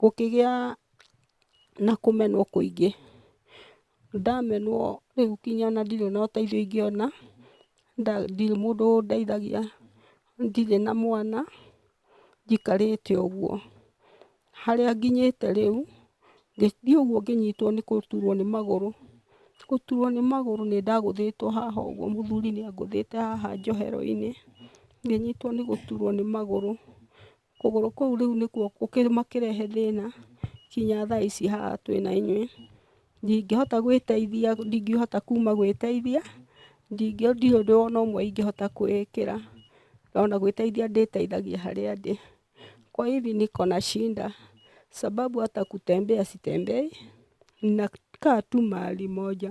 Gũkĩgĩa na kũmenwo kũingĩ, ndamenwo rĩu nginya ona ndirĩ na ũteithio ingĩona, ndirĩ mũndũ ũndeithagia, ndirĩ na mwana, njikarĩte ũguo. Harĩa nginyĩte rĩu, ngĩthiĩ ũguo ngĩnyitwo nĩ gũturwo nĩ magũrũ, gũturwo nĩ magũrũ nĩ ndagũthĩtwo haha ũguo mũthuri nĩ angũthĩte haha njohero-inĩ, ngĩnyitwo nĩ gũturwo nĩ magũrũ. Kũgũrũ kũu rĩu nĩkuo gũkĩmakĩrehe thĩna kinya thaa ici haha twĩ na inyuĩ. Ndingĩhota gwĩteithia, ndingĩhota kuuma gwĩteithia, ndingĩ, ndirĩ ũndũ o na ũmwe ingĩhota kwĩĩkĩra, o na gwĩteithia ndĩĩteithagia harĩa ndĩ. Kwa hivi niko na shida sababu hata kutembea sitembei, ninakaa tu mahali moja.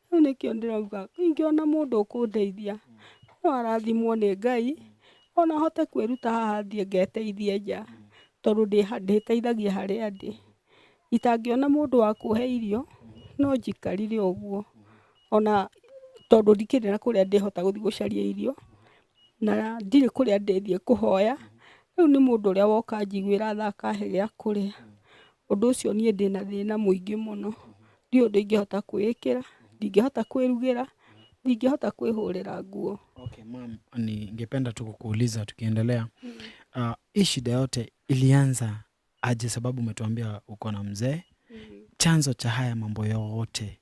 Rĩu nĩkĩo ndĩrauga ingĩona mũndũ ũkũndeithia no arathimwo nĩ Ngai ona hote kwĩruta haha thiĩ ngeteithie nja tondũ ndĩteithagia harĩa ndĩ. Itangĩona mũndũ wa kũhe irio no njikarire ũguo ona tondũ ndikĩrĩ na kũrĩa ndĩhota gũthiĩ gũcaria irio na ndirĩ kũrĩa ndĩthiĩ kũhoya, rĩu nĩ mũndũ ũrĩa woka anjiguĩra tha akahe gĩa kũrĩa. Ũndũ ũcio niĩ ndĩ na thĩna mũingĩ mũno, ndiũĩ ũndũ ingĩhota kwĩĩkĩra, ndingĩhota kwĩrugĩra, ndingĩhota kwĩhũrĩra nguo. Okay, ma'am, ningependa tu kukuuliza tukiendelea. Uh, hii shida yote ilianza aje? Sababu umetuambia uko na mzee. Chanzo cha haya mambo yote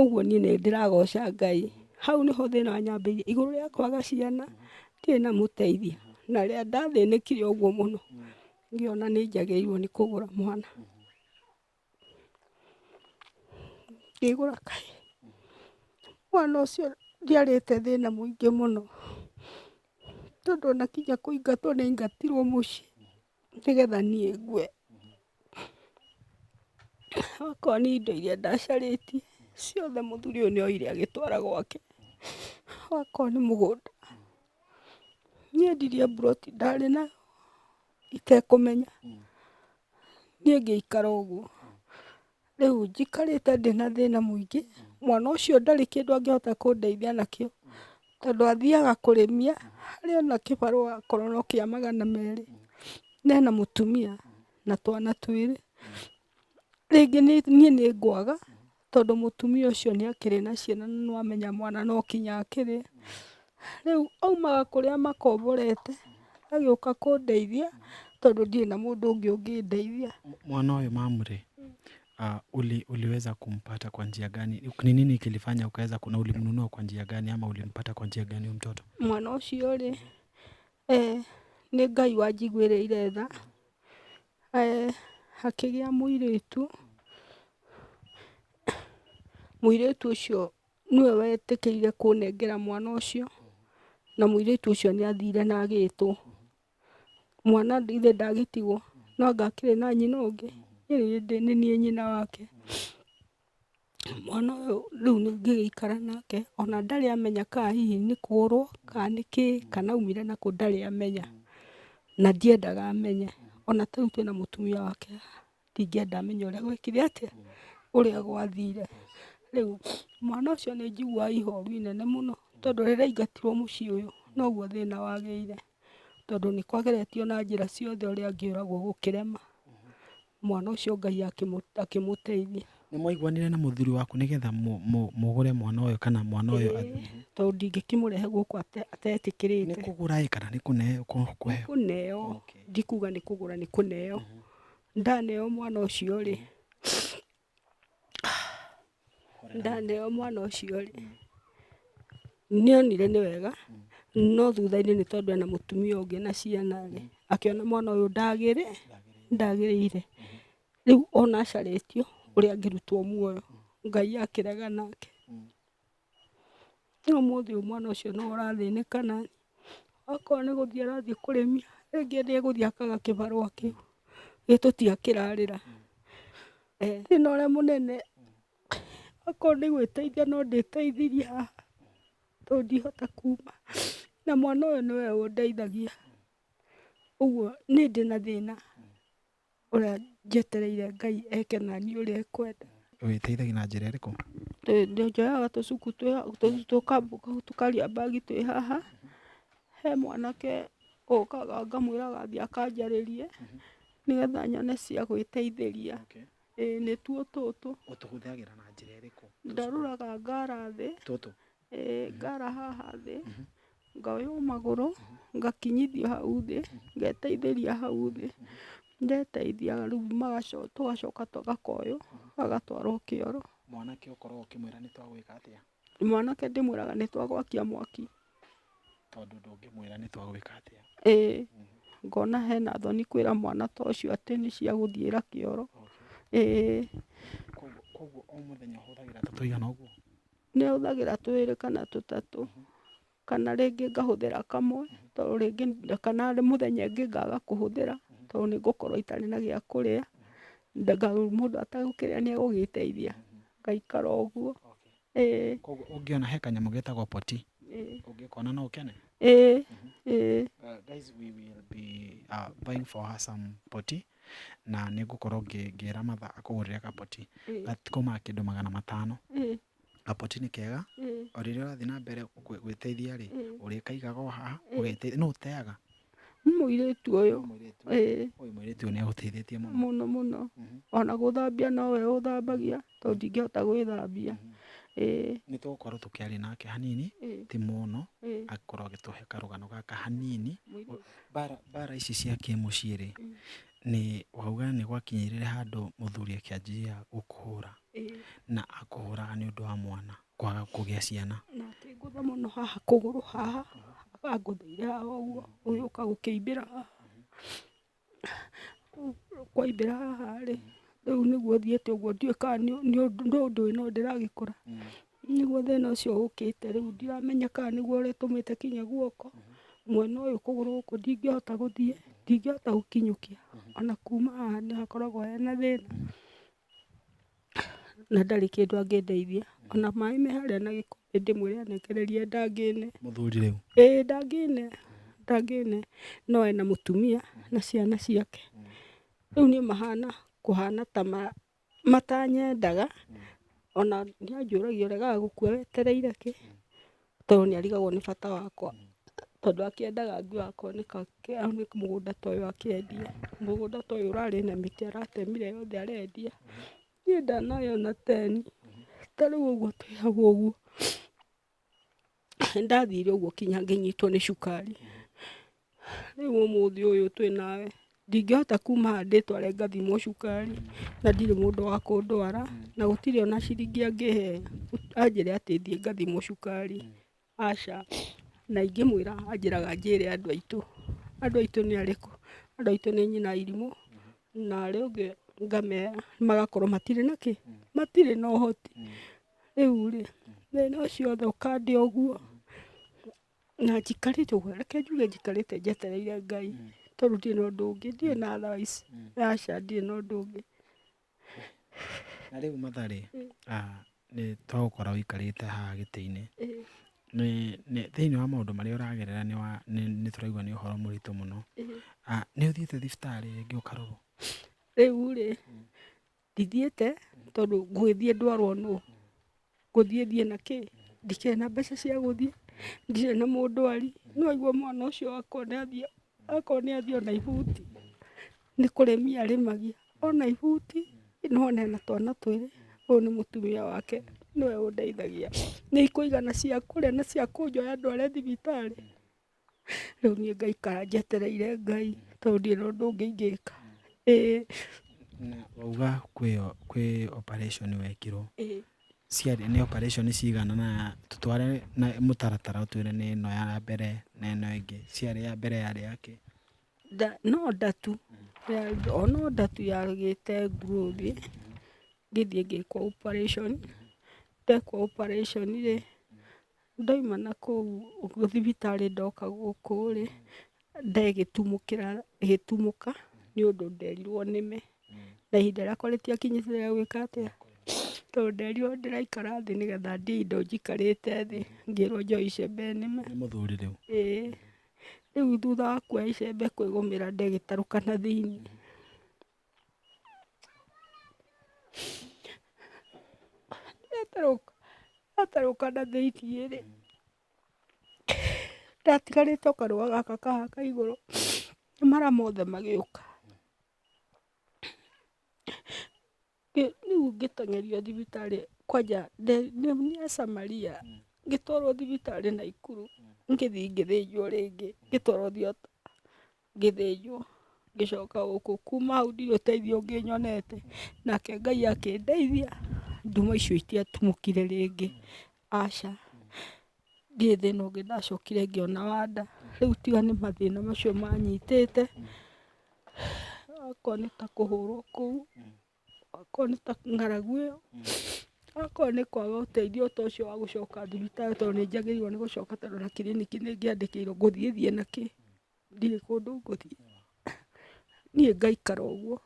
Ũguo niĩ nĩ ndĩragoca Ngai. Hau nĩho thĩna wanyambĩrĩirie. Igũrũ rĩa kwaga ciana, ndirĩ na mũteithia. Na rĩrĩa ndathĩnĩkire ũguo mũno, ngĩona nĩ njagĩrĩirwo nĩ kũgũra mwana. Ngĩgũra kahĩĩ. Mwana ũcio ndiarĩte thĩna mũingĩ mũno, tondũ ona kinya kũingatwo nĩaingatirwo mũciĩ. nĩgetha niĩ ngue. Okorwo nĩ indo iria ndacarĩtie ciothe mũthuri ũyũ nĩ oire agĩtwara gwake, okorwo nĩ mũgũnda, niĩ endirie mburoti ndarĩ nayo itekũmenya, niĩ ngĩikara ũguo. Rĩu njikarĩte ndĩ na thĩna mũingĩ, mwana ũcio ndarĩ kĩndũ angĩhota kũndeithia nakĩo, tondũ athiaga kũrĩmia, harĩa ena kĩbarũa akorwo no kĩa magana merĩ, na ena mũtumia na twana twĩrĩ. Rĩngĩ nĩ niĩ nĩ ngwaga, tondũ mũtumia ũcio nĩ akĩrĩ na ciana na nĩ wamenya mwana no kinya akĩrĩe. Rĩu aumaga kũrĩa amakomborete agĩũka kũndeithia tondũ ndirĩ na mũndũ ũngĩ ũngĩndeithia. Mwana ũyũ mamu rĩ, uli, uliweza kumpata kwa njia gani? Ni nini kilifanya ukaweza kuna ulimnunua kwa njia gani ama ulimpata kwa njia gani huyu mtoto? Mwana ũcio rĩ, eh, nĩ Ngai wanjiguĩrĩire tha, eh, hakĩgĩa mũirĩtu, mũirĩtu ũcio nĩwe wetĩkĩire kũnengera mwana ũcio, na mũirĩtu ũcio nĩ athire na agĩtwo. Mwana ithe ndagĩtigwo, no anga akĩrĩ na nyina ũngĩ? Ĩndĩ nĩ niĩ nyina wake. Mwana ũyũ rĩu nĩ ngĩgĩikara nake, ona ndarĩ amenya kana hihi nĩ kũũrwo, kana nĩ kĩĩ, kana aumire nakũ ndarĩ amenya, na ndiendaga amenye. Ona ta rĩu twĩna mũtumia wake haha. Ndingĩenda menye ũrĩa gwekire atĩa, ũrĩa gwathire. Rĩu mwana ũcio nĩ njiguaga ihoru inene mũno tondũ rĩrĩa aingatirwo mũciĩ ũyũ noguo thĩna wagĩire tondũ nĩ kwageretio na njĩra ciothe ũrĩa angĩũragwo gũkĩrema, mwana ũcio Ngai akĩmũteithia. Nĩ mwaiguanire na mũthuri waku nĩ getha mũgũre mwana ũyũ kana mwana ũyũ athiĩ? Ĩĩ tondũ ndingĩkĩmũrehe gũkũ atetĩkĩrĩte. Nĩ kũgũra ĩ kana nĩ kũneo? Nĩ kũneo, ndikuga nĩ kũgũra nĩ kũneo. Ndaneo mwana ũcio rĩ, ndaneo mwana ũcio rĩ, nĩonire nĩ wega, no thutha-inĩ nĩ tondũ ena mũtumia ũngĩ na ciana rĩ, akĩona mwana ũyũ ndagĩrĩ, ndagĩrĩire. Rĩu ona acarĩtio ũrĩa angĩrutwo muoyo, Ngai akĩrega nake. No ũmũthĩ ũyũ mwana ũcio nĩwe ũrathĩnĩka na okorwo nĩ gũthiĩ arathiĩ kũrĩmia, rĩngĩ nĩ egũthiĩ akaga kĩbarũa kĩu, gĩtũti akĩrarĩra. Thĩna ũrĩa mũnene okorwo nĩ gwĩteithia no ndĩteithirie haha tondũ ndihota kuuma na mwana ũyũ nĩwe ũndeithagia, ũguo niĩ ndĩna thĩna. Ũrĩa njetereire Ngai eke naniĩ ũrĩa ekwenda. Ũgĩteithagia na njĩra ĩrĩkũ? Njoyaga tũcuku twĩ ha- tũ- tũka- tũkaria mbagi twĩ haha he mwanake ũkaga ngamwĩraga athiĩ akanjarĩrie nĩgetha nyone cia gwĩteithĩria ĩĩ nĩtuo tũtũ Ũtũhũthagĩra na njĩra ĩrĩkũ? ndarũraga ngara thĩ tũtũ Ngara haha thĩ, ngoywo magũrũ, ngakinyithio hau thĩ, ngeteithĩria hau thĩ, ndeteithia rĩu tũgacoka tũgakoywo, gagatwarwo kĩoro. Mwanake ũkoragwo ũkĩmwĩra nĩ twagwĩka atĩa? Mwanake ndĩmwĩraga nĩ twagwakia mwaki. Tondũ ndũngĩmwĩra nĩ twagwĩka atĩa? Ĩĩ, ngona hena thoni kwĩra mwana ta ũcio atĩ nĩ cia gũthiĩra kĩoro. Ĩĩ. Kũguo o mũthenya ũhũthagĩra ta tũigana ũguo? Nĩ hũthagĩra twĩrĩ kana tũtatũ, kana rĩngĩ ngahũthĩra kamwe, tondũ rĩngĩ kana mũthenya ũngĩ ngaga kũhũthĩra, tondũ nĩ ngũkorwo itarĩ na gĩa kũrĩa, mũndũ ategũkĩrĩa nĩ egũgĩteithia, ngaikara ũguo, ĩĩ. Kwoguo ũngĩona he kanyamũ getagwo poti, ũngĩkona no ũkene? Ĩĩ, ĩĩ. Guys we will be buying for her some poti, na nĩ ngũkorwo ngĩra matha akũgũrĩre kaboti gatikoo ma kĩndũ magana matano. Kaboti nĩ kega o rĩrĩa ũrathiĩ na mbere gwĩteithia rĩ, ũrĩkaigaga o haha ũgeteithia. Nũ ũteaga? Nĩ mũirĩtu ũyũ. Mũirĩtu ũyũ nĩ agũteithĩtie mũno. Mũno mũno. Ona gũthambia nowe ũthambagia. tondũ ndingĩhota gwĩthambia ĩĩ nĩ tũgũkorwo tũkĩaria nake hanini ĩĩ ti mũno ĩĩ akorwo agĩtũhe karũgano gaka hanini mũirũ bara bara ici cia kĩmũciĩ rĩ Mm. nĩ wauga nĩ gwakinyĩrĩre handũ mũthuri akĩanjia gũkũhũra ĩĩ na akũhũraga nĩ ũndũ wa mwana kwaga kũgĩa ciana na akĩngũtha mũno haha kũgũrũ haha angũthĩire haha ũguo ũgĩũka gũkĩimbĩra haha Kwaimbĩra haha rĩ, rĩu nĩguo thiĩte ũguo ndiũĩ kana nĩ ũndũ ĩno ndĩragĩkora, nĩguo thĩna ũcio ũkĩte rĩu ndiramenya kana nĩguo ũrĩtũmĩte nginye guoko, mwena ũyũ kũgũrũ gũkũ ndingĩhota gũthiĩ, ndingĩhota gũkinyũkia, ona kuma haha nĩ hakoragwo hena thĩna. na ndarĩ kĩndũ angĩndeithia, ona maĩ me harĩa na gĩkombe ndĩmwĩre anengererie ndangĩne, mũthuri rĩu? ĩĩ ndangĩne, ndangĩne, no ena mũtumia na ciana ciake, rĩu niĩ mahana kũhana ta ma matanyendaga, ona nĩanjũragia ũregaga gũkua wetereire kĩ? Tondũ nĩ arigagwo nĩ bata wakwa, tondũ akĩendaga ngue akorwo nĩ kamũgũnda ta ũyũ akĩendia, mũgũnda ta ũyũ ũrarĩ na mĩtĩ aratemire yothe arendia, niĩ ndanahe ona teni, ta rĩu ũguo twĩ hau ũguo, nĩ ndathire ũguo nginya ngĩnyitwo nĩ cukari. Rĩu ũmũthĩ ũyũ twĩ nawe, ndingĩhota kuuma haha ndĩtware ngathimwo cukari, na ndirĩ mũndũ wa kũndwara, na gũtirĩ ona ciringi angĩhe anjĩre atĩ thiĩ ngathimwo cukari, aca. Na ingĩmwĩra anjĩraga njĩre andũ aitũ. Andũ aitũ nĩ arĩkũ? Andũ aitũ nĩ nyina arimũ, na arĩa angĩ ngamera, magakorwo matirĩ na kĩ? Matirĩ na ũhoti. Rĩu rĩ, thĩna ũcio wothe ũkandĩa ũguo, na njikarĩte ũguo, reke njuge njikarĩte njetereire Ngai, tondũ ndirĩ na ũndũ ũngĩ, ndirĩ na otherwise, aca ndirĩ na ũndũ ũngĩ. Na rĩu Mathare, nĩ twagũkora ũikarĩte haha gĩtĩ-inĩ, thĩiniĩ wa maũndũ marĩa ũragerera nĩ tũraigua nĩ ũhoro mũritũ mũno, nĩ ũthiĩte thibitarĩ rĩngĩ ũkarorwo? Rĩu rĩ, Ndithiĩte tondũ ngũgĩthiĩ ndwarwo nũũ? Ngũthiĩ thiĩ na kĩĩ? Ndikĩrĩ na mbeca cia gũthiĩ, ndirĩ na mũndwari. Nĩ waigua mwana ũcio akwa nĩ athiĩ, akwa nĩ athiĩ ona ibuti, nĩ kũremia aremagia. Ona ibuti, no one na twana twĩrĩ, ũyũ nĩ mũtumia wake, nĩwe ũndeithagia. Nĩ ikũigana cia kũrĩa na cia kũnjoya ndware thibitarĩ? Rĩu niĩ ngaikara njetereire Ngai tondũ ndirĩ na ũndũ ũngĩ ingĩka. Ĩĩ. Na wauga kwĩ kwĩ operation wekirwo, Ĩĩ. ciarĩ nĩ operation cigana na tũtware na mũtaratara ũtwĩre nĩ ĩno ya mbere na ĩno ĩngĩ, ciarĩ ya mbere yarĩ ya kĩ? Nda no nda tu, ya o no nda tu yagĩte nguũthĩ, ngĩthiĩ ngĩkwo operation, ndekwo operation rĩ, Ndaima na kũu thibitarĩ ndoka gũkũ rĩ, ndegĩtumũkĩra gĩtumũka nĩ ũndũ nderirwo nĩme, na ihinda rĩakwa rĩtiakinyĩte rĩa gwĩka atĩa, tondũ nderirwo ndĩraikara thĩ nĩgetha ndĩe indo njikarĩte thĩ, ngĩrwo njoe icembe nĩme. Nĩ mũthuri rĩu? Ĩĩ. Rĩu thutha wa kuoya icembe kwĩgũmĩra ndegĩtarũka na thĩiniĩ. Ndatarũka, ndatarũka na thĩiniĩ rĩ, ndatigarĩte o kanua gaka ka haha ka igũrũ, nĩ mara mothe magĩũka. Ngĩ- Rĩu ngĩteng'erio thibitarĩ kwanja nde- nĩ nĩ ya Samaria, ngĩtwarwo thibitarĩ Naikuru, ngĩthiĩ ngĩthĩnjwo rĩngĩ, ngĩtwarwo thiota. ngĩthĩnjwo ngĩcoka gũkũ, kuma hau ndirĩ ũteithio ũngĩ nyonete, nake Ngai akĩndeithia nduma icio itiatumũkire rĩngĩ, aca, ndirĩ thĩna ũngĩ ndacokire ngĩona wa nda, rĩu tiga nĩ mathĩna macio manyitĩte, akorwo nĩ ta kũhũrwo kũu, akorwo nĩ ta ng'aragu ĩyo, akorwo nĩ kwaga ũteithio ta ũcio wa gũcoka thibitarĩ tondũ nĩ njagĩrĩirwo nĩ gũcoka tondũ ona kiriniki nĩ ngĩandĩkĩirwo ngũthiĩ thiĩ nakĩ. ndirĩ kũndũ ngũthiĩ, niĩ ngaikara ũguo,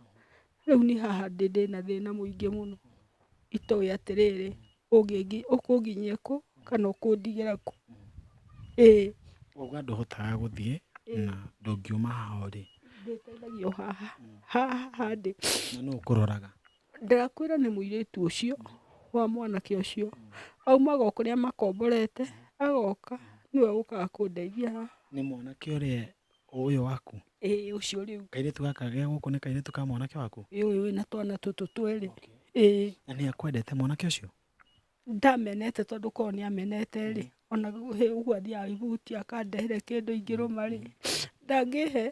rĩu niĩ haha ndĩ ndĩna thĩna mũingĩ mũno, itoĩ atĩrĩrĩ, ũngĩngi ũkũnginyia kũ, kana ũkũndigĩra kũ, ĩĩ. Kuga ndũhotaga gũthiĩ, na ndũngiuma haha ũrĩ. Ndĩteithagia o haha, haha haha ndĩ. Na nũ ũkũroraga? Ndakwĩra nĩ mũirĩtu ũcio wa mwanake ũcio aumaga o kũrĩa makomborete agoka nĩwe ũkaga kũndeithia haha. Nĩ mwanake ũrĩa ũyũ waku? Ĩĩ ũcio rĩu. Kairĩtu gaka ge gũkũ nĩ kairĩtu ka mwanake waku? Ĩĩ ũyũ wĩna twana tũtũ twĩrĩ. Ĩĩ. Na nĩ akwendete mwanake ũcio? Ndamenete tondũ korwo nĩ amenete rĩ, ona ũguo athiaga ihuti akandehera kĩndũ ingĩrũma rĩ, ndangĩhe.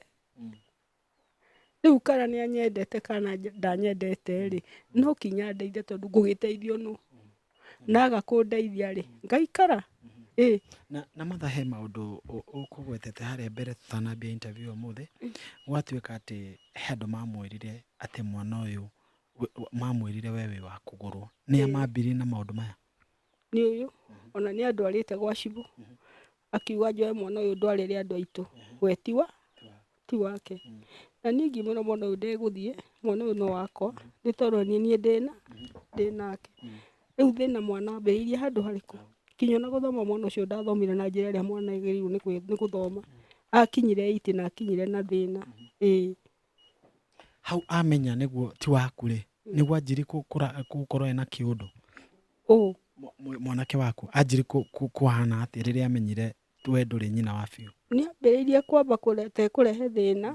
Rĩu kana nĩ anyendete kana ndanyendete rĩ, no nginya andeithie tondũ ngũgĩteithio nũ? Na aga kũndeithia rĩ, ngaikara? Ĩ. Na na Martha he maũndũ ũkũgwetete harĩa mbere tũtanambia interview ũmũthĩ, gwatuĩka atĩ he andũ mamwĩrire atĩ mwana ũyũ mamwĩrire we wĩ wa kũgũrwo. Nĩa mambirie na maũndũ maya? Nĩ ũyũ, ona nĩ andwarĩte gwa cibũ, akiuga njoe mwana ũyũ ndwarĩre andũ aitũ we ti wa ti wake na niĩ ngiumĩra mwana ũyũ ndegũthiĩ mwana ũyũ no wakwa nĩ tondũ niĩ niĩ ndĩna ndĩnake rĩu thĩna mwana ambĩrĩirie handũ harĩkũ nginya ona gũthoma mwana ũcio ndathomire na njĩra ĩrĩa mwana agĩrĩirwo nĩ kwĩ- nĩ gũthoma akinyire eight na akinyire na thĩna ĩĩ hau amenya nĩguo ti waku rĩ nĩguo anjirie kũra- gũkorwo ena kĩũndũ ũũ. Mwanake waku anjiri kũhana atĩa rĩrĩa amenyire we ndũrĩ nyina wa biũ? Nĩambĩrĩirie kwamba kũreta ekũrehe thĩna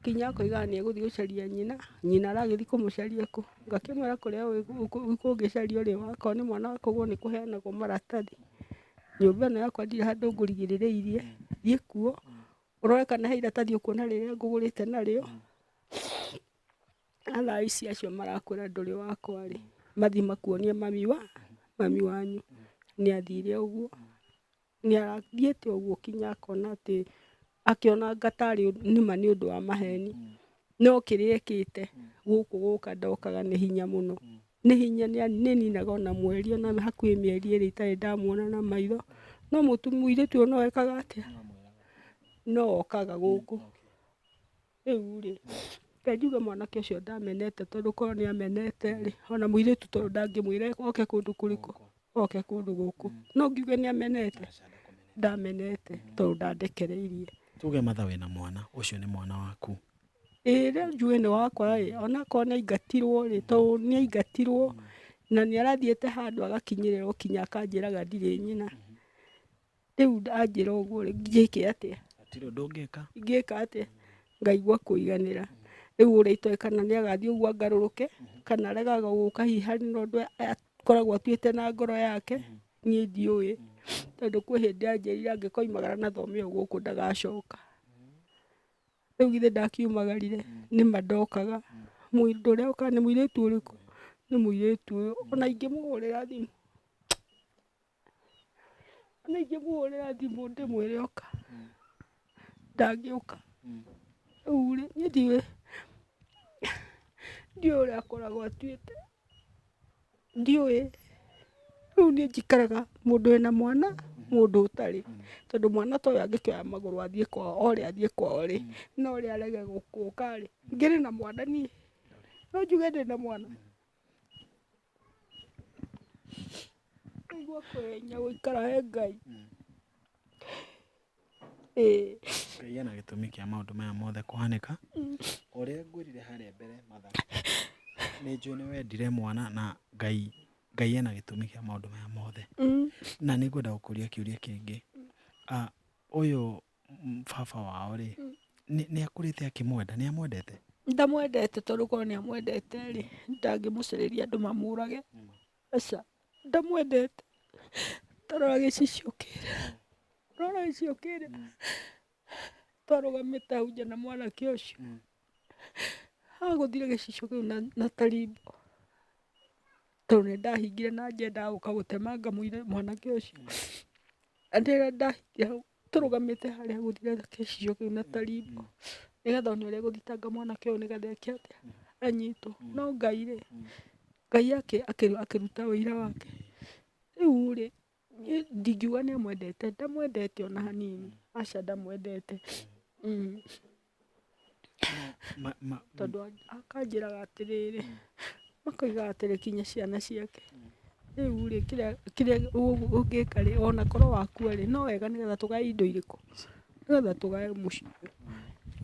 nginya akoigaga nĩegũthiĩ gũcaria nyina, nyina aragĩthiĩ kũmũcaria kũ? Ngakĩmwĩra kũrĩa ũĩ kũngĩcario rĩ, akorwo nĩ mwana wa kũgũrwo nĩkũheanagwo maratathi. Nyũmba ĩno yakwa ndirĩ handũ ngũrigĩrĩrĩirie, thiĩ kuo ũrore kana he iratathi ũkuona rĩrĩa ngũgũrĩte narĩo. athaici acio marakwĩra ndũrĩ wakwa rĩ, mathiĩ makuonie mami wa, mami wanyu. Nĩ athire ũguo, nĩ athiĩte ũguo kinya akona atĩ, akĩonanga tarĩ nĩma nĩ ũndũ wa maheni. No kĩrĩa ekĩte, gũkũ gũka ndokaga nĩ hinya mũno. Nĩ hinya nĩ nĩ ninaga ona mweri ona hakuhĩ mĩeri ĩrĩ itarĩ ndamuona na maitho. No mũirĩtu ũyũ no ekaga atĩa? No okaga gũkũ. Rĩu-rĩ, reke njuge mwanake ũcio ndamenete tondũ korwo nĩ amenete-rĩ, ona mũirĩtu ta ũyũ ndangĩmwĩra oke kũndũ kũrĩkũ? Oke kũndũ gũkũ. No ngiuge nĩ amenete? Ndamenete tondũ ndandekereirie. Tuge matha wĩ na mwana, ũcio nĩ mwana waku. Ĩĩ rĩu njuge nĩ wakwa-rĩ, ona akorwo nĩ aingatirwo-rĩ, tondũ nĩ aingatirwo na nĩ arathiĩte handũ agakinyĩrĩrwo kinya akanjĩraga ndirĩ nyina. Rĩu ndanjĩra ũguo rĩ, njĩke atĩa? Hatirĩ ũndũ ũngĩka. Ingĩka atĩa? Ngaigua kũiganĩra. Rĩu ũrĩa itoĩ kana nĩ agathiĩ ũguo angarũrũke, kana aregaga gũka hihi harĩ na ũndũ akoragwo atuĩte na ngoro yake, niĩ ndiũĩ. Tondũ kwĩ hĩndĩ anjĩrire angĩkoimagara na thome ĩyo gũkũ ndagacoka. Rĩu githĩ ndakiumagarire? Nĩ ma ndokaga. Mũndũ ũrĩa okaga nĩ mũirĩtu ũrĩkũ? Nĩ mũirĩtu ũyũ. O na ingĩmũhũrĩra thimũ. na ingĩmũhũrĩra thimũ ndĩmwĩre oka ndangĩũka rĩu rĩ niĩ ndiũĩ ndiũĩ ũrĩa akoragwo atuĩte ndiũĩ rĩu niĩ njikaraga mũndũ wĩna mwana mũndũ ũtarĩ tondũ mwana ta ũyũ angĩkĩoya magũrũ athiĩ kwao ore athiĩ kwao rĩ na ũrĩa arege gũka rĩ ngĩrĩ na mwana niĩ no njuge ndĩna mwana? Kũigua kũhenia gũikara he Ngai. Ĩĩ. Ngai ena gĩtũmi kĩa maũndũ maya mothe kũhanĩka. O ũrĩa ngwĩrire harĩa mbere Martha, nĩ njũĩ nĩ wendire mwana na Ngai, Ngai ena gĩtũmi kĩa maũndũ maya mothe. Na nĩ ngwenda gũkũria kĩũria kĩngĩ, ũyũ baba wao rĩ nĩ akũrĩte akĩmwenda nĩ amwendete ndamwendete tondũ korwo nĩ amwendete rĩ ndangĩmũcĩrĩria andũ mamũrage aca ndamwendete tarora gĩcicio kĩrĩ rora gĩcicio kĩrĩ twarũgamĩte hau nja na mwanake ũcio agũthire gĩcicio kĩu na tarimbo tondũ nĩ ndahingire na njendaga gũka gũtemanga mwanake ũcio ndahingire hau tũrũgamĩte harĩa gũthire gĩcicio kĩu na tarimũ nĩgetha one ũrĩa egũthitanga mwanake ũyũ nĩgetha eke atĩa anyitwo. No Ngai rĩ, Ngai akĩruta ũira wake. Rĩu rĩ, niĩ ndingiuga nĩ amwendete, ndamwendete ona hanini, aca ndamwendete. Tondũ akanjĩraga atĩrĩrĩ, akoiga atĩ reke nginye ciana ciake, rĩu rĩ kĩrĩa ũngĩka rĩ ona korwo wakua rĩ no wega nĩ getha tũgae indo irĩkũ? Nĩ getha tũgae mũciĩ.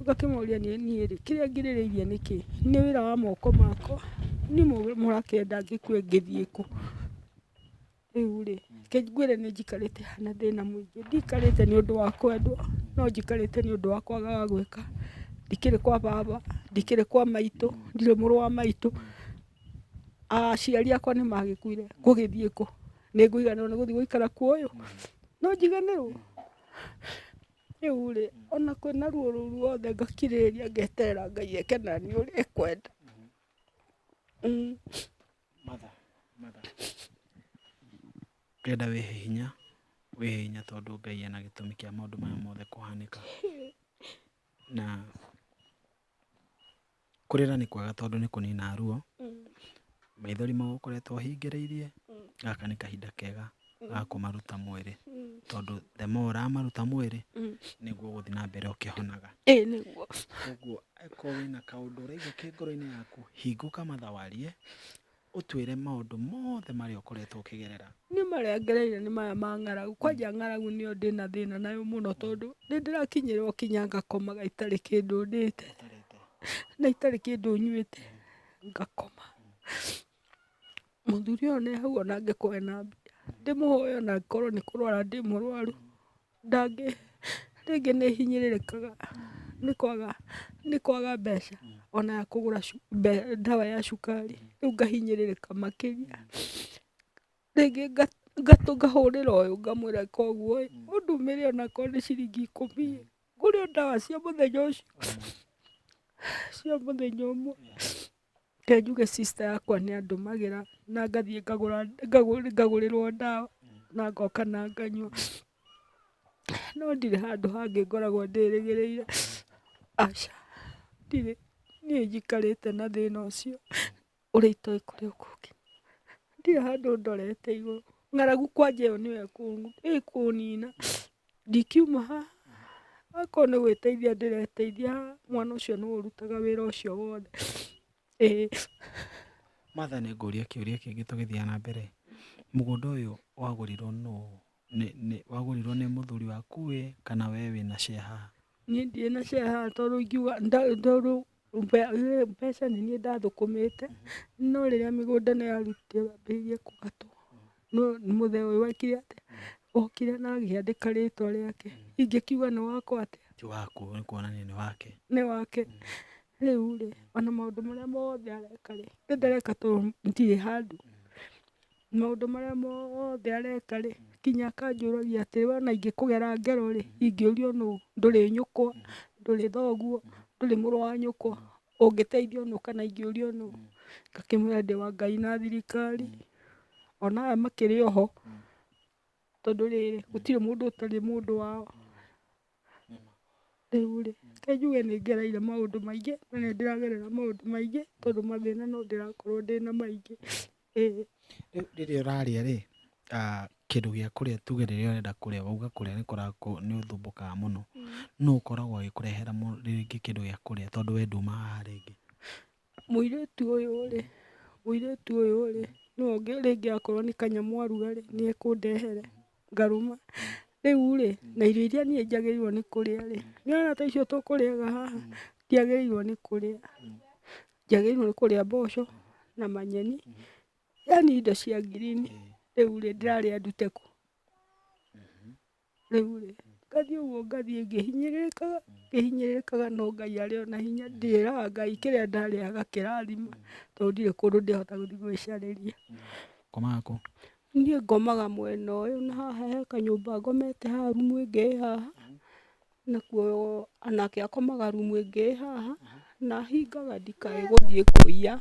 Ngakĩmoria niĩ rĩ kĩrĩa ngirĩrĩirie nĩ kĩĩ? Nĩ wĩra wa moko makwa? Niĩ mũrakĩenda ngĩkue ngĩthiĩ kũ? Rĩu rĩ, reke ngwĩre nĩ njikarĩte haha na thĩna mũingĩ. Ndikarĩte nĩ ũndũ wa kwendwo, no njikarĩte nĩ ũndũ wa kwaga ga gwĩka. Ndikĩrĩ kwa baba, ndikĩrĩ kwa maitũ, ndirĩ mũrũ wa maitũ, aciari akwa nĩ magĩkuire. Ngũgĩthiĩ kũ? Nĩ ngũiganĩrwo nĩ gũthiĩ gũikara kuo ũyũ? No njiganĩrwo? Rĩu rĩ, o na kwĩna ruo rũu ruothe ngakirĩrĩria ngeterera Ngai eke na niĩ ũrĩa ekwenda. Matha, matha. Ngĩenda wĩhe hinya, wĩhe hinya tondũ Ngai ena gĩtũmi kĩa maũndũ maya mothe kũhanĩka. Na kũrĩra nĩ kwega tondũ nĩ kũninaga ruo, maithori mau ũkoretwo ũhingĩrĩirie, gaka nĩ kahinda kega wa mm. kũmaruta mwĩrĩ mm. tondũ the more ũramaruta mwĩrĩ mm. nĩguo ũgũthiĩ na mbere ũkĩhonaga nĩguo ũguo akorwo wĩna kaũndũ ũraigua kĩ ngoro-inĩ yaku hingũka matha warie ũtwĩre maũndũ mothe marĩa ũkoretwo ũkĩgerera nĩ marĩa ngereire nĩ maya ma ng'aragu kwanja ng'aragu nĩyo ndĩ na thĩna nayo mũno tondũ nĩ ndĩrakinyĩrwo kinya ngakomaga itarĩ kĩndũ ndĩte na itarĩ kĩndũ nyuĩte ngakoma Mũthuri ũyũ nĩ hau ona angĩkorwo ena mbia, ndĩmũhoe ona angĩkorwo nĩ kũrwara ndĩ mũrwaru, ndangĩ, rĩngĩ nĩ hinyĩrĩrĩkaga nĩ kwaga, nĩ kwaga mbeca ona ya kũgũra ndawa ya cukari, rĩu ngahinyĩrĩrĩka makĩria. Rĩngĩ ngatũ ngahũrĩra ũyũ ngamwĩra ĩka ũguo ĩ, ũndũmĩre onakorwo nĩ ciringi ikũmi ĩ, ngũre o ndawa cia mũthenya ũcio, cia mũthenya ũmwe. Reke njuge sister yakwa nĩ andũmagĩra na ngathiĩ ngagũrĩrwo ndawa na ngoka na nganyua. No ndirĩ handũ hangĩ ngoragwo ndĩrĩgĩrĩire, aca ndirĩ. Niĩ njikarĩte na thĩna ũcio ũrĩa itoĩ kũrĩa ũkũnginya. Ndirĩ handũ ndorete igũrũ, ng'aragu kwanja ĩyo nĩyo ĩkũnina. Ndingiuma haha akorwo nĩ gwĩteithia ndĩreteithia mwana ũcio nĩwe ũrutaga wĩra ũcio wothe. Martha nĩ ngũria kĩũria kĩngĩ tũgĩthiaga na mbere, mũgũnda ũyũ wagũrirwo nũ? Wagũrirwo nĩ mũthuri waku ĩ kana we wĩna share haha? Niĩ ndirĩ na share haha tondũ ingiuga tondũ Mbeca nĩ niĩ ndathũkũmĩte no rĩrĩa mĩgũnda ĩno yarutirwo yambĩrĩirie kũhatwo no mũthee ũyũ ekire atĩa? Okire na akĩandĩka rĩtwa rĩake ingĩkiuga nĩ wakwa atĩa? Ti waku nĩ kuonania nĩ wake. Nĩ wake. Rĩu rĩ ona maũndũ marĩa mothe areka rĩ ndareka tondũ ndirĩ handũ. Maũndũ marĩa mothe areka rĩ, nginya akanjũragia atĩrĩ, wona ingĩkũgera ngero rĩ, ingĩũrio nũ? Ndũrĩ nyũkwa, ndũrĩ thoguo, ndũrĩ mũrũ wa nyũkwa, ũngĩteithio nũ kana ingĩũrio nũ? Ngakĩmwĩra ndĩ wa Ngai na thirikari, ona aya makĩrĩ oho, tondũ rĩrĩ, gũtirĩ mũndũ ũtarĩ mũndũ wao. Rĩu rĩ, reke njuge nĩ ngereire maũndũ maingĩ na nĩ ndĩragerera maũndũ maingĩ tondũ mathĩna no ndĩrakorwo ndĩna maingĩ. Rĩu rĩrĩa ũrarĩa rĩ, kĩndũ gĩa kũrĩa tuge rĩrĩa ũrenda kũrĩa wauga kũrĩa nĩ ũthumbukaga mũno, nũũ ũkoragwo agĩkũrehera rĩngĩ kĩndũ gĩa kũrĩa tondũ we nduumaga haha rĩngĩ? Mũirĩtu ũyũ rĩ, mũirĩtu ũyũ rĩ, no oke rĩngĩ akorwo nĩ kanyamũ aruga rĩ, nĩ ekũndehere ngarũma. Rĩu rĩ, na irio iria niĩ njagĩrĩirwo nĩ kũrĩa rĩ, nĩ ũrona ta icio tũkũrĩaga haha, ndiagĩrĩirwo nĩ kũrĩa. Njagĩrĩirwo nĩ kũrĩa mboco na manyeni, yani indo cia ngirini. Rĩu rĩ, ndĩrarĩa ndute kũ? Rĩu rĩ, ngathiĩ ũguo ngathiĩ ngĩhinyĩrĩrĩkaga, ngĩhinyĩrĩrĩkaga no Ngai arĩ o na hinya, ndĩraga Ngai kĩrĩa ndarĩa agakĩrathima, tondũ ndirĩ kũndũ ndĩhota gũthiĩ gwĩcarĩria. Ũkomaga kũ? Niĩ ngomaga mwena ũyũ na haha he kanyũmba ngomete haha rumu ĩngĩ ĩ haha, Nakuo nake akomaga rumu ĩngĩ ĩ haha, na hingaga ndikae gũthiĩ kũiya.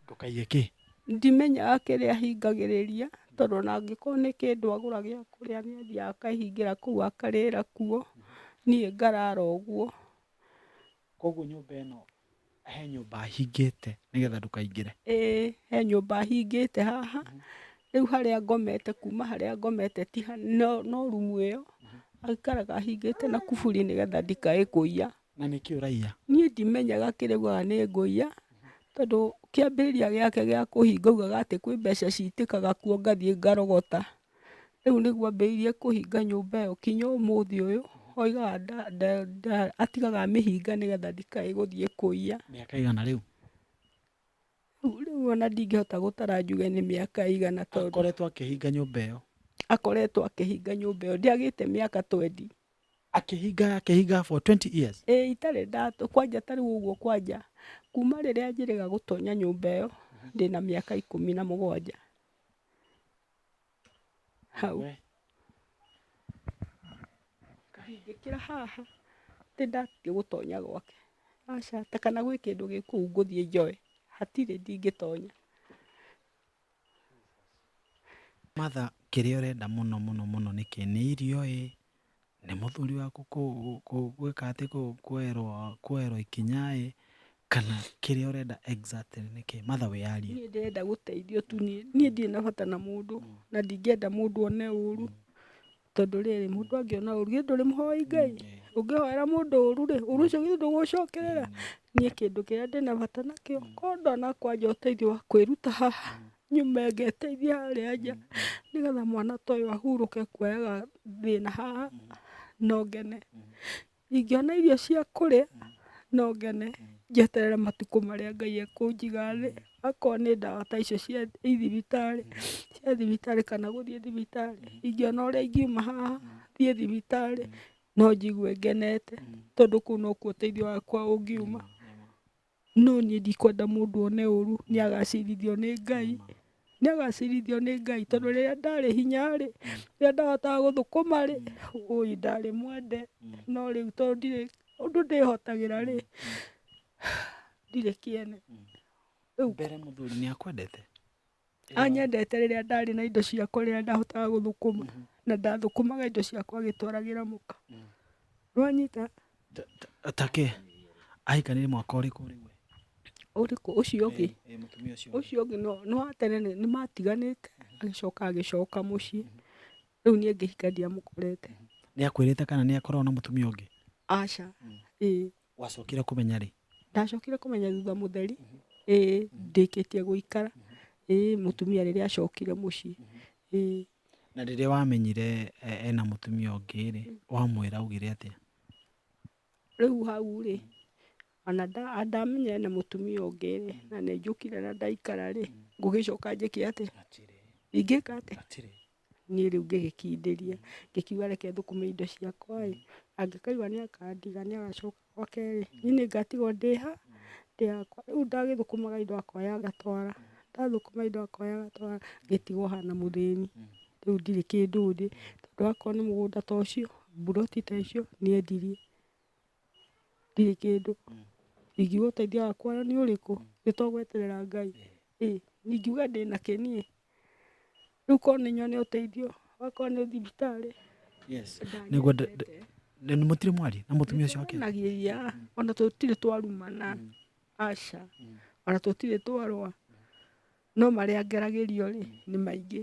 Ndũkaiye kĩ? Ndimenyaga kĩrĩa ahingagĩrĩria, tondũ ona angĩkorwo nĩ kĩndũ agũra gĩa kũrĩa nĩ athiaga akahingĩra kũu akarĩra kuo, niĩ ngarara ũguo. Kũguo nyũmba ĩno He nyũmba hingĩte nĩgetha ndũkaingĩre. Ĩ he nyũmba hingĩte haha, rĩu harĩa ngomete kuma harĩa ngomete ti ha no no rumu ĩyo, aikaraga ahingĩte na kuburi nĩgetha ndikae kũiya. Na nĩkĩ ũraiya? Niĩ ndimenyaga kĩrĩa augaga nĩ ngũiya, tondũ kĩambĩrĩria gĩake gĩa kũhinga augaga atĩ kwĩ mbeca citĩkaga kuo ngathiĩ ngarogota. Rĩu nĩguo ambĩrĩirie kũhinga nyũmba ĩyo nginya ũmũthĩ ũyũ, atigaga amĩhinga nĩgetha ndĩkae gũthiĩ kũiya. Mĩaka ĩigana rĩu? Rĩu ona ndingĩhota gũtara njuge nĩ mĩaka ĩigana tondũ. Akoretwo akĩhinga nyũmba ĩyo? Akoretwo akĩhinga nyũmba ĩyo, ndĩagĩte mĩaka twendi. Akĩhinga akĩhinga for twenty years? Ĩĩ itarĩ ndatũ, kwanja ta rĩu ũguo kwanja, kuma rĩrĩa njĩrĩga gũtonya nyũmba ĩyo, ndĩna mĩaka ikũmi na mũgwanja. hau We, ngĩkĩra haha atĩ ndathiĩ gũtonya gwake aca ta kana gwĩ kĩndũ gĩ kũu ngũthiĩ njoe hatirĩ ndingĩtonya Martha kĩrĩa ũrenda mũno mũno mũno nĩkĩ nĩ irio ĩ nĩ mũthuri waku gwĩka atĩ kwoerwo ikinya ĩ kana kĩrĩa ũrenda exactly nĩ kĩĩ? Matha wĩyarie. Niĩ ndĩrenda gũteithio tu niĩ, niĩ ndirĩ na bata na mũndũ na ndingĩenda mũndũ one ũru. Tondũ rĩrĩ, mũndũ angĩona ũru, githĩ ndũrĩ mũhoi Ngai? Ũngĩhoera mũndũ ũru rĩ, ũru ũcio githĩ ndũgũgũcokerera? Niĩ kĩndũ kĩrĩa ndĩna bata nakĩo, korwo ndũnakũa nja ũteithio wa kwĩruta haha, nyume ngeteithie harĩa nja nĩgetha mwana ta ũyũ ahurũke kuoyaga thĩna haha no ngene. Ingĩona irio cia kũrĩa no ngene njeterere matukũ marĩa Ngai ekũnjiga thĩ akorwo nĩ ndawa ta icio cia thibitarĩ cia thibitarĩ kana gũthiĩ thibitarĩ. Ingĩona ũrĩa ingiuma haha thiĩ thibitarĩ no njigue ngenete tondũ kũu nokuo ũteithio wakwa ũngiuma. No niĩ ndikwenda mũndũ one ũru, nĩ agacirithio nĩ Ngai, nĩ agacirithio nĩ Ngai, tondũ rĩrĩa ndarĩ hinya rĩ, rĩrĩa ndahotaga gũthũkũma rĩ, ũĩ ndarĩ mwende, no rĩu tondũ ndirĩ ũndũ ndĩhotagĩra rĩ, ndirĩ kĩene. Rĩu. Mbere mũthuri nĩ akwendete? Anyendete rĩrĩa ndarĩ na indo cia kũrĩa ndahotaga gũthũkũma na ndathũkũmaga indo ciakwa agĩtwaragĩra mũka. Nĩwanyita? Ta kĩ? Ahikanire mwaka ũrĩkũ rĩu we? Ũrĩkũ? Ũcio ũngĩ? Ĩĩ mũtumia ũcio ũngĩ. Ũcio ũngĩ no, nĩ wa tene nĩ, nĩmatiganĩte, agĩcoka agĩcoka mũciĩ, rĩu niĩ ngĩhika ndiamũkorete. Nĩakwĩrĩte kana nĩakoragwo na mũtumia ũngĩ? Aca. Ĩĩ. wacokire kumenya rĩ ndacokire kumenya thutha mutheri ĩĩ ndĩkĩtie gũikara ĩĩ mutumia rĩrĩa acokire muciĩ ĩĩ na rĩrĩa wamenyire eh, ena mutumia ũngĩ rĩ wamwĩra augire atĩa rĩu hau rĩ ona nda- a- ndamenya ena mutumia ũngĩ rĩ na nĩ njũkire na ndaikara rĩ ngũgĩcoka njĩke atĩa ingĩka atĩa niĩ rĩu ngĩgĩkindĩria, ngĩkiuga reke thũkũme indo ciakwa ĩ, angĩkaigua nĩ akandiga nĩ agacoka oke rĩ, niĩ nĩ ngatigwo ndĩ ha? Ndĩ hakwa. Rĩu ndagĩthũkũmaga indo akoya agatwara, ndathũkũma indo akoya agatwara, ngĩtigwo ha na mũthĩni. Rĩu ndirĩ kĩndũ ndĩ, tondũ akorwo nĩ mũgũnda ta ũcio, mburoti ta icio, nĩ endirie. ndirĩ kĩndũ ingiuga ũteithio wakwa nĩ ũrĩkũ nĩ to gweterera Ngai, ĩĩ ingiuga ndĩna kĩ niĩ, rĩu korwo nĩ nyone ũteithio okorwo nĩ thibitarĩ nĩguo mũtirĩ mwaria na mũtumia ũcio wake? Nĩtwaranagĩria ona tũtirĩ twarumana aca ona tũtirĩ twarũa no marĩa ngeragĩrio rĩ nĩ maingĩ.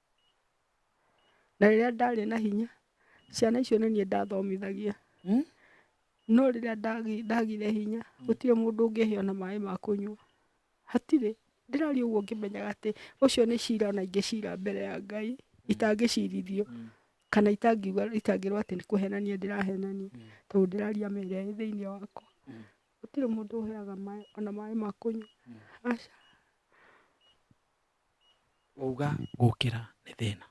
Na rĩrĩa ndarĩ na hinya, ciana icio nĩ niĩ ndathomithagia. Hmm? No rĩrĩa ndagi- ndagire hinya, gũtirĩ mũndũ ũngĩhe ona maĩ ma kũnyua. Hatirĩ. Ndĩraria ũguo ngĩmenyaga atĩ ũcio nĩ cira ona ingĩcira mbere ya Ngai, itangĩcirithio, kana itangiuga itangĩrwo atĩ nĩ kũhenania ndĩrahenania, tondũ ndĩraria ma ĩrĩa ĩ thĩinĩ wakwa. Gũtirĩ mũndũ ũheaga maĩ ona maĩ ma kũnyua. Aca. Wauga gũkĩra nĩ thĩna.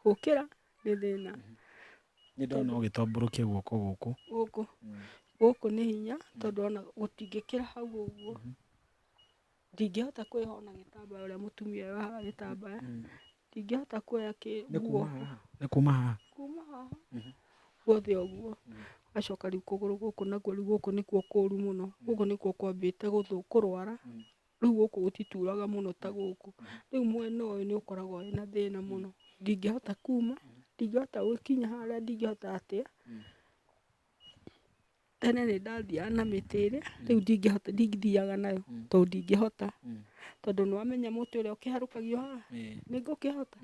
Gũkĩra nĩ thĩna. Nĩ ndona ũgĩtambũrũkia guoko gũkũ. Gũkũ. Gũkũ nĩ hinya tondũ ona gũtingĩkĩra hau ũguo. Ndingĩhota kwĩyoha na gĩtambaya ũrĩa mũtumia eyohaga gĩtambaya. Ndingĩhota kuoya nguo. Nĩ kuma haha? Kuma haha guothe ũguo. Ũgacoka rĩu kũgũrũ gũkũ nakuo rĩu gũkũ nĩkuo kũru mũno. Gũkũ nĩkuo kwambĩte kũrwara. Rĩu gũkũ gũtituraga mũno ta gũkũ, rĩu mwena ũyũ nĩ ũkoragwo wĩ na thĩna mũno, ndingĩhota kuma, ndingĩhota gũkinya harĩa, ndingĩhota atĩa, tene nĩ ndathiaga na mĩtĩ ĩrĩ, rĩu ndingĩhota, ndithiaga nayo, tondũ ndingĩhota, tondũ nĩ wamenya mũtĩ ũrĩa ũkĩharũkagio haha, nĩ ngũkĩhota,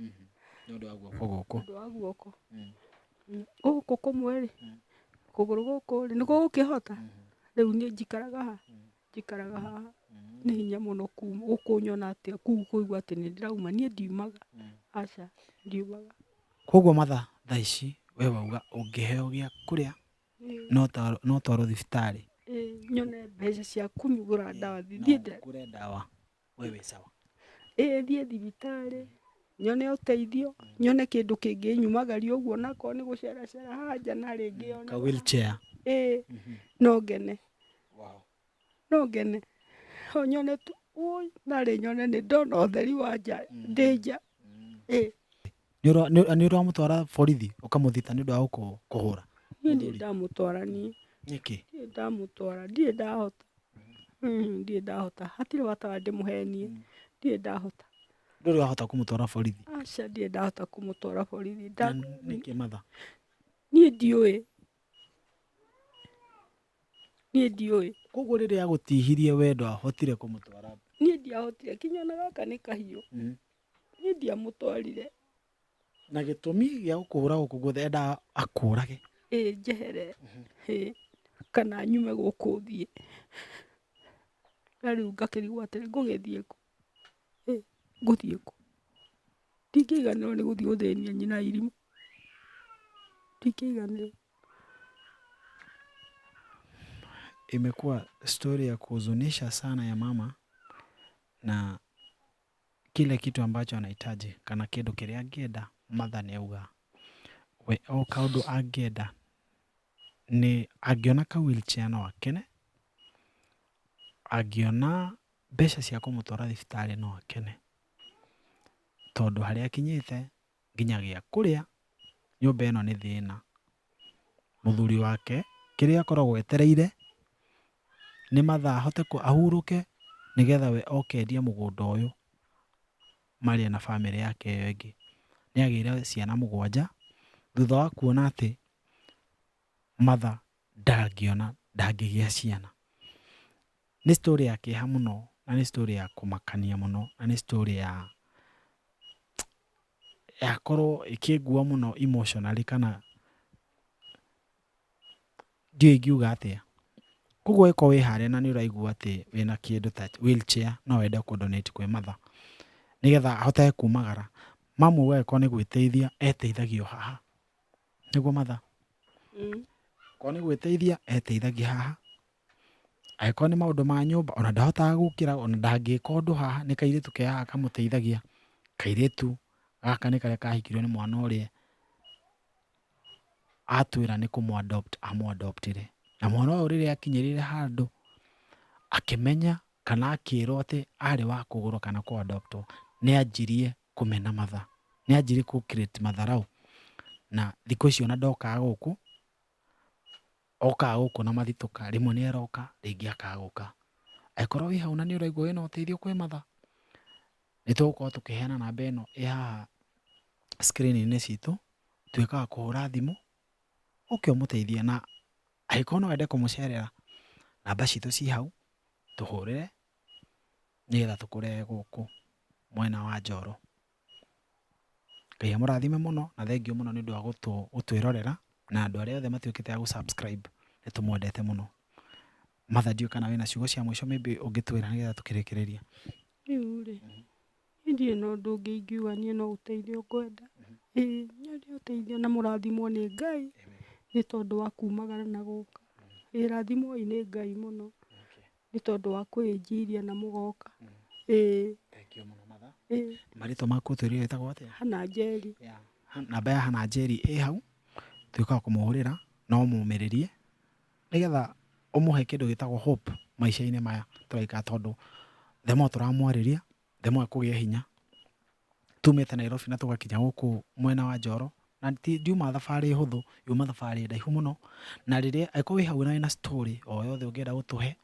nĩ ũndũ wa guoko, gũkũ kũmwe rĩ, kũgũrũ gũkũ rĩ, nĩ gũgũkĩhota, rĩu niĩ njikaraga haha, njikaraga haha, nĩ hinya mũno gũkũnyona atĩ kũigua atĩ nĩ ndĩrauma, niĩ ndiumaga, aca ndiumaga. Koguo matha thaa ici we wauga ũngĩheo gĩa kũrĩa no ũtwarwo thibitarĩ? Ĩĩ nyone mbeca cia kũgũra ndawa thiĩ ngũre ndawa. we wĩ sawa ĩĩ thiĩ thibitarĩ nyone ũteithio nyone kĩndũ kĩngĩnyumagaria ũguo nakorwo nĩ gũceracera haha nja na rĩngĩ yone ka wheelchair ĩĩ no ngene no ngene no nyone tu ũi narĩ nyone nĩ ndona ũtheri wa nja ndĩ nja ĩĩ Nĩ ũra- nĩ- nĩ ũramũtwara borithi ũkamũthita nĩ ũndũ wa gũkũ- kũhũra niĩ ndirĩ Mũthuri. ndamũtwara niĩ nĩkĩ ndirĩ ndamũtwara ndirĩ ndahota Mm, ndirĩ ndahota hatirĩ bata wa ndĩmũhenie ndirĩ ndahota ndũrĩ wahota kũmũtwara borithi aca ndirĩ ndahota kũmũtwara borithi Na Nda- nĩkĩ matha niĩ ndiũĩ niĩ ndiũĩ koguo rĩrĩa agũtihirie wendo ahotire kũmũtwara niĩ ndiahotire kinya ona gaka nĩ kahiũ Niĩ ndiamũtwarire. Na gĩtũmi gĩa gũkũhũra gũkũ guothe endaga akũrage. Ĩ njehere ĩ kana nyume gũkũ thiĩ. Na rĩu ngakĩrigwo atĩrĩ ngũgĩthiĩ kũ? Ĩ ngũthiĩ kũ? Ndingĩiganĩrwo nĩ gũthiĩ gũthĩnia nyina irimũ. Ndingĩiganĩrwo. Imekuwa story ya kuhuzunisha sana ya mama na. kile kitu ambacho anahitaji kana kĩndũ kĩrĩa angĩenda Martha nĩ auga we o kaũndũ angĩenda nĩ angĩona ka wheelchair no akene, angĩona mbeca cia kũmũtwara thibitarĩ no akene, tondũ harĩa akinyĩte nginya gĩa kũrĩa, nyũmba ĩno nĩ thĩna. Mũthuri wake kĩrĩa akoragwo etereire nĩ mathaa ahote ahurũke nĩgetha we oke endie mũgũnda ũyũ marĩe na bamĩrĩ yake ĩyo ĩngĩ. Nĩagĩire ciana mũgwanja, thutha wa kuona atĩ Martha ndangĩona, ndangĩgĩa ciana. Nĩ story ya kĩeha mũno na nĩ story ya kũmakania mũno na nĩ story ya yakorwo ĩkĩngua mũno emotionally kana ndiũĩ ingiuga atĩa. Kwoguo ĩkorwo wĩ harĩa na nĩ ũraigua atĩ wĩna kĩndũ ta wheel chair no wende kũ donate kwĩ matha nĩgetha ahote kumagara. Mamu angĩkorwo nĩ gwĩteithia eteithagio haha, nĩguo matha? Akorwo nĩ gwĩteithia eteithagia haha. Angĩkorwo nĩ maũndũ ma nyũmba ona ndahotaga gũkĩra ona ndangĩka ũndũ haha nĩ kairĩtu ke haha kamũteithagia. Kairĩtu gaka nĩ karĩa kahikirwo nĩ mwana ũrĩa atwĩra nĩ kũmũ adopt amũ adopt ire. Na mwana ũyũ rĩrĩa akinyĩrĩire handũ akĩmenya kana akĩrwo atĩ arĩ wa kũgũrwo kana kũ adopt wo nĩ anjirie kũmena mathaa. Nĩ anjirie kũ create matharaũ na thikũ ici ona ndokaga gũkũ okaga gũkũ na mathitũka, rĩmwe nĩ aroka, rĩngĩ akaga gũka. Angĩkorwo wĩ hau na nĩ ũraigua wĩna ũteithio kwĩ matha, nĩ tũgũkorwo tũkĩheana namba ĩno ĩ haha screen-inĩ citũ, tuĩke a kũhũra thimũ, ũke ũmũteithie na angĩkorwo no wende kũmũcerera, namba citũ ci hau, tũhũrĩre nĩgetha tũkũrehe gũkũ mwena wa Njoro. Ngai amũrathime mũno na thengiũ mũno nĩ ũndũ wa gũtwĩrorera na andũ arĩa othe matuĩkĩte a gũ subscribe nĩ tũmwendete mũno. Martha ndiũĩ kana wĩna ciugo cia mũico maybe ũngĩtwĩra nĩgetha tũkĩrĩkĩrĩria. Rĩu rĩ, niĩ ndirĩ na ũndũ ũngĩ ingiuga niĩ no ũteithio ngwenda. Ĩĩ nyonia ũteithio na mũrathimwo nĩ Ngai nĩ tondũ wa kumagara na gũka. Ĩĩ rathimwoi nĩ Ngai mũno. Nĩ tondũ wa kwĩĩnjiria na mũgoka. Ĩĩ. Thengiũ mũno matha. Ĩĩ. Marĩtwa maku ũtwĩrire wĩtagwo atĩa? Hannah Njeri. Ya Hannah, namba ya Hannah Njeri ĩ hau, tuĩka a kũmũhũrĩra na ũmũmĩrĩrie nĩgetha ũmũhe kĩndũ gĩtagwo hope maica-inĩ maya tũraikara tondũ the more tũramwarĩria the more ekũgĩa hinya. tumĩte Nairobi na tũgakinya gũkũ mwena wa Njoro, na ti ndiuma thabarĩ hũthũ, yuma thabarĩ ndaihu mũno, na rĩrĩa angĩkorwo wĩ hau na wĩna story o yothe ũngĩenda gũtũhe,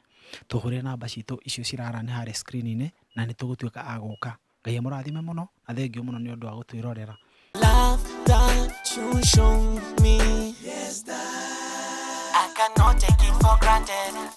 tũhũrĩre namba citũ icio cira run harĩa screen -inĩ, na nĩtũgũtuĩka a gũka. Ngai amũrathime mũno, na thengiũ mũno nĩũndũ wa gũtwĩrorera. Love that you show me. Yes, that. I cannot take it for granted.